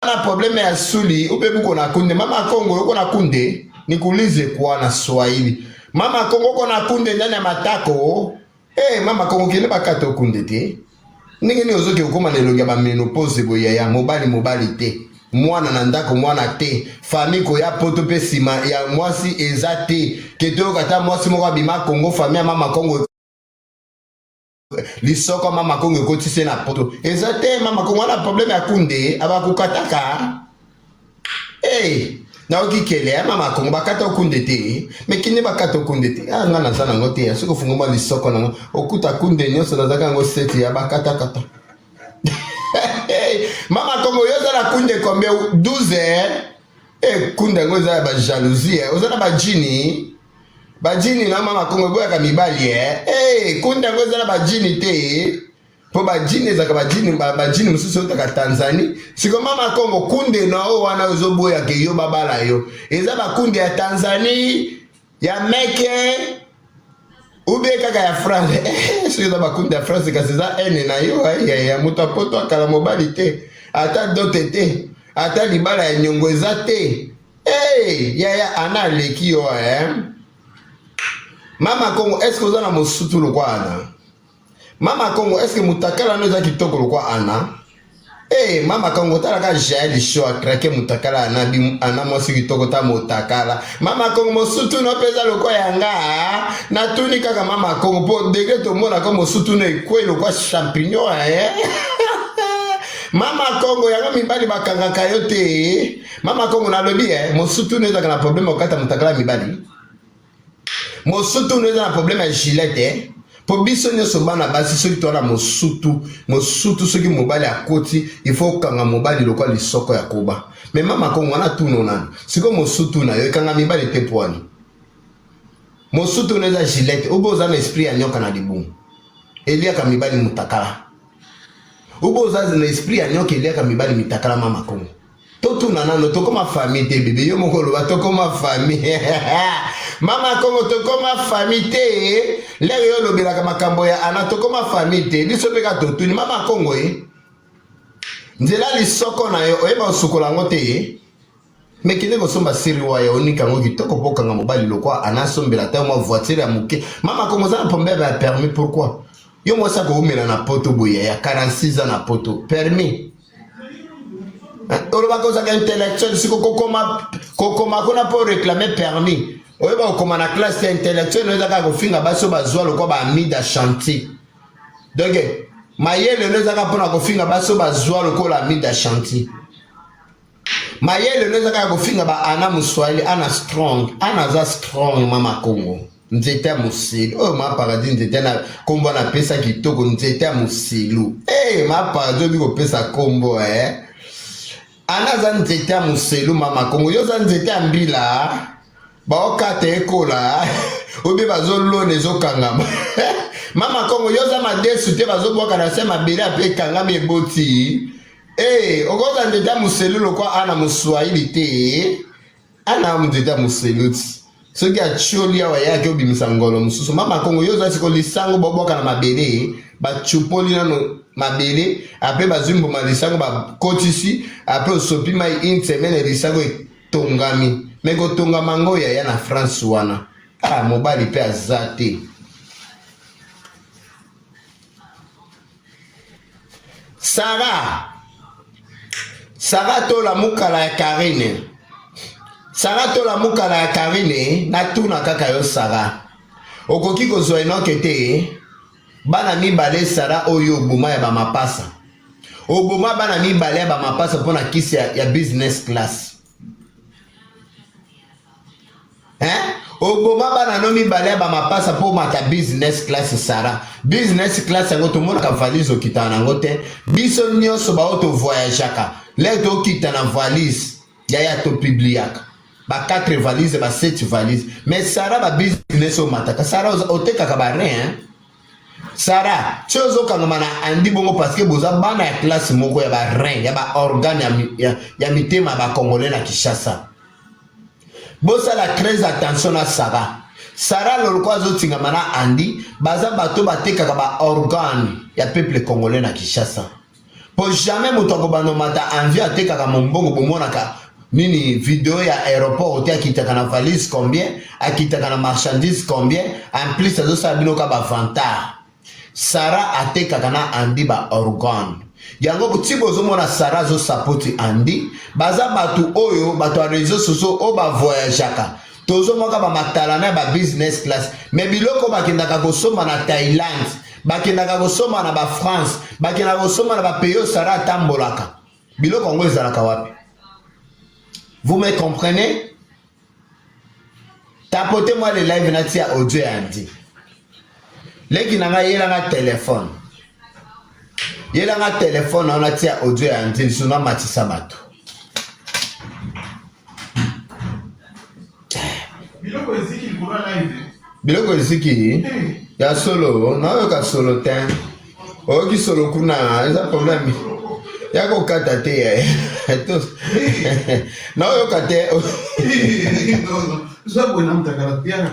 na probleme ya suli upe buko na kunde mama kongo yoko na kunde nikulize kwa na swahili mama kongo ko na kunde ndani ya matako eh mama kongo kende bakata okunde te ndenge nini ozoki okoma na elongi ya bamenopose boye yaya mobali mobali te mwana na ndako mwana te fami koya poto mpe nsima ya mwasi eza te ketoyoka ata mwasi moko abima kongo fami ya mama kongo lisoko mama kongo ekotisi na poto eza te mama kongo wana probleme ya kunde abakokataka hey, nayoki kele ya mama kongo bakata okunde te mekinde bakata okunde te ah, nga naza nango te ya soki ofungoma lisoko nango okuta kunde nyonso nazaka yango seti ya bakatakata mama kongo yo oza na kunde kombe 12 Eh, kunda yango eza ya ba jalousie eh. oza na bajini bajini na mama kongo eboyaka mibali eh. Eh, kunda yango eza na bajini te eh. mpo bajini ezalaka bajini bajini mosusu eutaka tanzanie siko mama kongo kunde na oyo wana ozoboyaka yo babala yo eza bakunde ya tanzanie ya meke ubie kaka ya france eh, soki eza bakundi ya france kasi eza ene na yo eh, ya moto apoto akala mobali te ata dote te ata libala ya nyongo eza te hey, yaya ana aleki yo eh? mama kongo eske oza na mosutu lokwana Mama Kongo, est-ce que mutakala no eza kitoko lokwa ana? Eh, mama Kongo tala ka Jael show a craquer mutakala ana bi ana mwasi kitoko ta mutakala. Mama Kongo mosutu no peza lokwa yanga. Na tuni kaka mama Kongo po degre to mona ko mosutu no ekwe lokwa champignon eh. mama kongo yango mibali bakangaka yo te mama kongo nalobi eh, mosutu no ezalaka na probleme okata motakala mibali mosutu eza na problème ya gilete eh? po biso nyonso bana basi soki towana mosutu mosutu soki mobali akoti ifo okanga mobali lokola lisoko ya koba me mama kongo wana tuno nani sikoyo mosutu na yo ekanga mibali te pwani mosutu na eza gilete obo oza na esprit ya nyoka na libumu eliaka mibali mutakala obo oza na esprit ya nyoka eliaka mibali mitakala mama kongo totuna nano tokoma famille te bebe yo moko oloba tokoma famille mama kongo tokoma famille te lelo yo olobelaka makambo ya ana tokoma famille te biso mpe ka totuni mama kongo ye eh? nzela lisoko na yo oyeba osukola yango te ye eh? me kende kosomba siriwa ya onika yango kitoko mpo okanga mobali lokwa ana asombela ata mwa voiture ya moke mama kongo oza na problème ya permis pourquoi yo mwasi akoumela na poto boye ya 46 ans na poto permis olobaka ozalaka intellectuel si kokoma kokoma kuna mpo réclame permis oyeba kokoma na classe ya intellectuel oyo ezaka kofinga basi oyo bazwa lokola baamida chantier donc mayele oyo ezaka mpona kofinga basi oyo bazwa lokola amida chantier Mayele no eza kaka kofinga ba ana muswahili ana strong ana aza strong mama Kongo nzete ya moselu oyo ma paradis nzete na kombo na pesa kitoko nzete ya moselu hey, eh, ma paradis obi kopesa kombo eh. ana aza nzete ya moselu mama Kongo yo oza nzete ya mbila baokata ekola eh. obi bazolona ezokangama mama Kongo yo oza madesu te bazobwaka na se mabele ape ekangami eboti Hey, okoza ndeta muselu lokwa ana muswahili te ana ndeta muselu ti soki atioli awa yaki obimisa ngolo mosusu mama kongo yo ozasi kolisango bobwaka na mabele bacupoli nano mabele ape bazwi mbuma lisango bakotisi ape osopi mai une semaine lisango etongami me kotongama ngo yaya na france wana ah mobali mpe aza te Sarah Sarah tola mukala ya Karine Sarah tola mukala ya Karine natuna kaka yo Sarah okoki kozwa enoke te bana mibale Sarah oyo oboma ya bamapasa oboma bana mibale ya bamapasa mpo na kisi ya, ya business class eh? oboma bana no mibale ya bamapasa mpo omata business class sara business class yango tomonaka valise okitana nango te biso nyonso baoyo tovoyageaka lei tokita na valise yaya topibliaka ba 4 valise ba 7 valise mais sara ba business omataka sara otekaka ba rein Sara, ti ozokangama na Andy bongo parce que boza bana ya classe moko ya ba rein ya ba organe ya, ya, ya mitema ya bakongole na Kinshasa. Bosala très attention na Sara. Sara loloko azotingama na Andy, baza bato batekaka ba organe ya peuple congolais na Kinshasa. po jamais moto akobanda omata envie atekaka mombongo bomonaka nini video ya aéroport te akitaka na valise combien akitaka na marchandise combien en plus azosala bino ka bavantard sara atekaka na andi ba organe yango ntina ozomona sara azosapoti andi baza bato oyo bato ya réseau sociaux oyo bavoyageaka tozomwaka bamatalana ya babusiness class me biloko bakendaka kosomba na thailand bakendaka kosomba na bafrance bakendaka kosomba na bapays oyo sara atambolaka biloko yango ezalaka wapi vous me comprenez tapote mwa le live natia audio ya ndi leki na ngai yela nga telefone yela nga telefone wana tia audio ya nzeli so namatisa bato biloko eziki likolo ya live biloko eziki ya solo nayoka solo te oyoki solo kuna eza problème ya kokata te eh. na oyoka te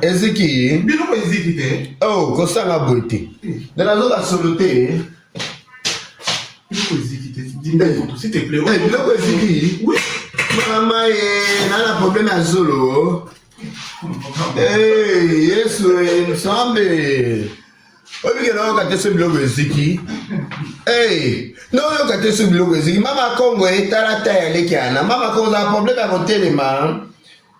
eziki o oh, kosanga boye te eh. nde nazoka solo te eh. biloko eziki mama ye na na problème ya zolo yesu ensemble oyebike nayoka te so biloko eziki hey, nayoka te so biloko eziki mama kongo etala ta ya leki ana mama kongo ozala probleme ya kotelema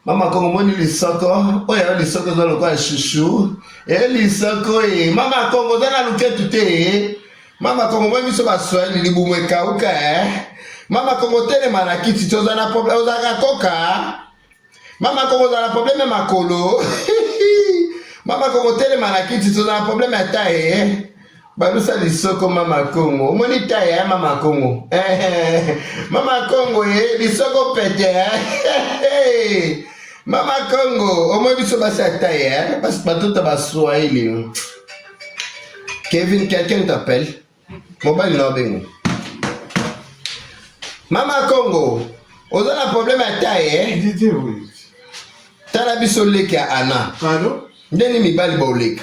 mama kongo moni lisoko oyo yana lisoko eza lokola shushu e eh, lisoko e mama kongo oza na luketu te mama kongo moni biso baswahili libumu ekauka e mama kongo telema na kiti te ozala na probleme ozalaka koka mama koko ozala na probleme ya makolo mama koko telema na kiti tozala na probleme ya taye eh? balusa lisoko mama kongo omoni taye ya eh, mama kongo mama kongo ye eh, lisoko pete eh? mama kongo omoni biso basi ya taye eh? batuta baswahili kevin quelqu'un t'appelle Mobali na obengo. Mama Kongo, oza na problème ya taille eh? Didier oui. Tala biso leki ya Anna. Pardon? Ndenge mibali baoleka.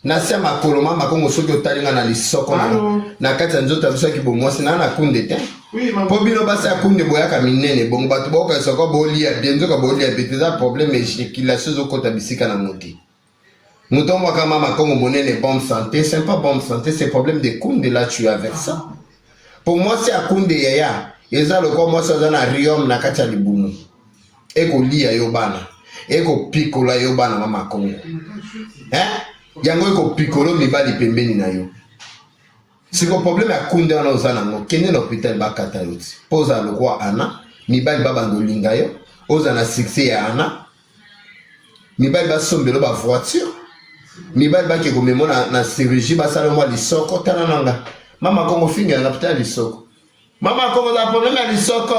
Na sia makolo mama Kongo soki otali nga na lisoko na na kati ya nzoto biso ki bomwasi na na kunde te. Oui mama. Po bino basi ya kunde boyaka minene bongo bato boka soko bolia bien nzoka bolia bete za problème ejaculation zokota bisika na moti. Mutombo kama makongo monene bonne santé, c'est pas bonne santé, c'est problème de kunde là tu as avec ça. Pour moi c'est à kunde yaya, eza loko moi ça na riom na kati ya libumu. Eko liya yo bana, eko pikola yo bana ma makongo. Hein? Yango eko pikolo mibali pembeni na yo. Siko problème ya kunde wana oza nango, kende na hôpital bakata yo ti. Poza lokwa ana, mibali babanda olinga yo, oza na succès ya ana, mibali basombelo ba voiture mibali bake komemo na, na chirurgie basala mwa lisoko tala na nga mama kongo finga yanga pita lisoko mama kongo za probleme ya lisoko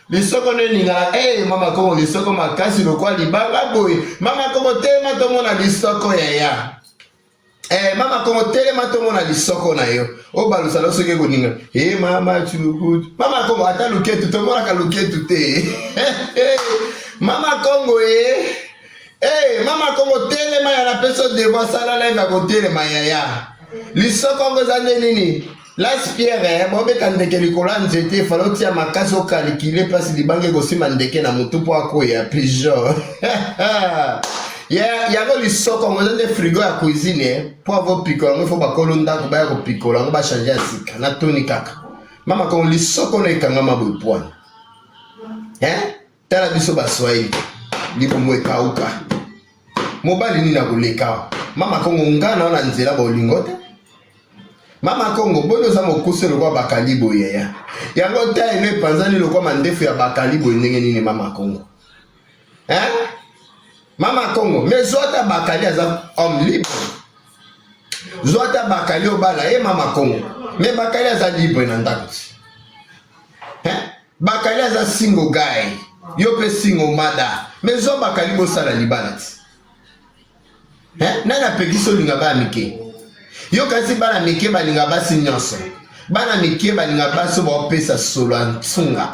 lisoko nde elingaka hey, eh, mama kongo lisoko makasi lokwa libanga boye mama kongo tema tomona lisoko yaya Eh, mama kongo telema tomona lisoko na yo obalusa lo soki ekoninga e eh, mama chulukutu mama kongo ata luketu tomonaka luketu te mama kongo e eh. hey, eh, mama kongo telema ya na peso devoir sala live ya kotelema yaya lisoko yango eza nde nini Las Pierre eh, bobeta ndeke likolo ya nzete fale otia makasi okalikile mpasi libanga ekosima ndeke na motu mpo akoya pigeon yango lisoko yango eza nde frigo ya cuisine eh, mpo avopikola yango ifo bakolo ndako baya kopikola yango bachange ya sika na toni kaka mama kongo lisoko na ekangama boye pwana eh? tala biso ba swahili libumu ekauka mobali nini akoleka mama kongo nga na wana nzela bolingo te mama kongo boni oza mokuse lokwa bakali boye ya yango ntaino epanzani lokwa mandefu ya bakali boye ndenge nini mama kongo eh? mama kongo me zwata bakali aza homme libre zwata bakali obala ye mama kongo me bakali aza libre na ndako ti Bakali aza single guy. Yo pe single mada. Mais zo bakali bo sala libala ti. Hein? Nani apekisi olinga ba mike? Yo kasi bana mike balinga basi nyonso. bana mike balinga basi baopesa solo ya nsunga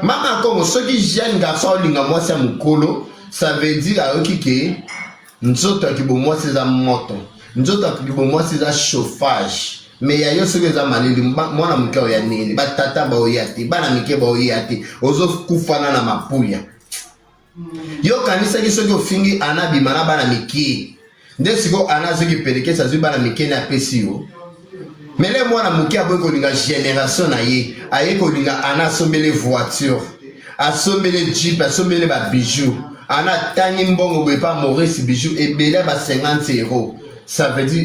mama kongo soki jeune garçon olinga mwasi ya mokolo ça veut dire ayoki ke Nzoto ya kibomwasi eza moto, nzoto ya kibomwasi eza chauffage. Me ya yo soki eza malili, mwana moke oya nini? Batata baoya te, bana mike baoya te, ozokufana na mapuya. Yo okanisaki soki ofingi ana bima na bana mike, nde sikoyo ana azoki pelekesa azwi bana mike na apesi yo mele mwana moke akoki kolinga generation na ye aye kolinga ana asombele voiture asombele jeep asombele babijou ana atangi mbongo boye pa maurice bijou ebele ya ba 50 euro ça veut dire